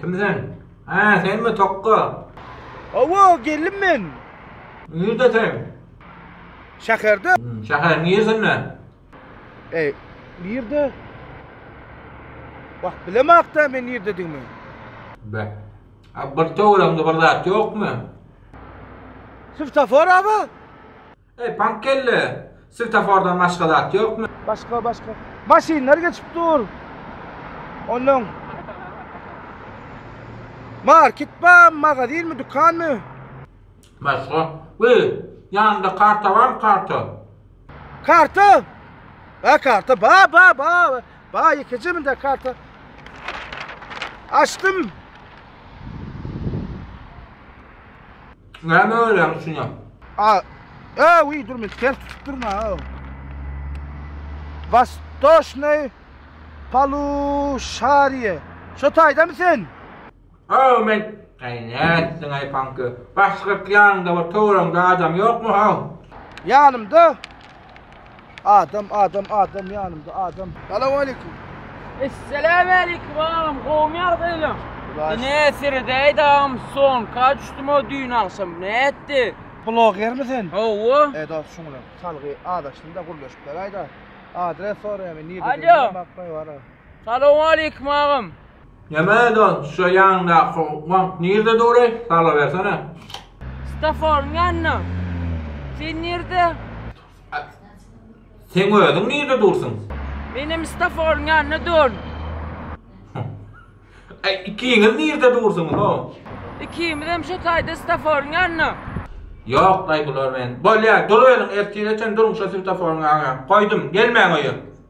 Kim sen? Hä, senmi Tokga? Hawa, geldim men. Nirde sen? Şäherde. Şäheriň niresinde? Eý, nirde? Wah, bilemok-da men nirdedigimi. Be. A bir töweregiňde bir zat ýokmy? Swetofora-ba? Eý, pank kelle! Swetafordan başga zat ýokmy? Başga, başga. Maşynlar geçip dur. Onnoň. Market barmy, magazinmi, dükanmy? Başga. Wiý, ýanyňda karta barmy, karta? Karta? Bar karta, bar, bar, bar. Bar, ýeke jeminde karta. Açdym. Näme görýäň üçin ýap. A Öw wiý dur men ters tutup durun a öw. Wastoshnöý Palushariýe. Şo taýdamy sen? Öw men Äý nätdiňaý panki. Başgyrt ýanyňda bir töweregiňde adam ýokmy haw? Ýanymda. Adam, adam, adam ýanymda, adam. Salam aleyküm. Esselamu aleyküm agam, gowmy ýagdaýlaň? Ine seredäýdi agam son, ka düşdüm o düýn agşam, nätdi? Blogermi sen? Hawa. E dost şuňa çalgy azaşdym-da gürleşip beraýda. Adres soraýamy, nirede? Alo. Salowmaleýkim agam. Neme don şo ýanyňdaky bank nirde dury salabersene. Stafforyň ýanynda. Sen nirde? Seň özüň nirde dursuň? Menem stafforyň ýanynda durn. Aý ikiňiz nirde dursuňyz hoo. Ikimizem şo taýda stafforyň ýanynda. Ýok daýy bular men. Bolýa dur özüň ertire çen durň şo stafforyň ýanynda. Goýdum gelmäň öýe.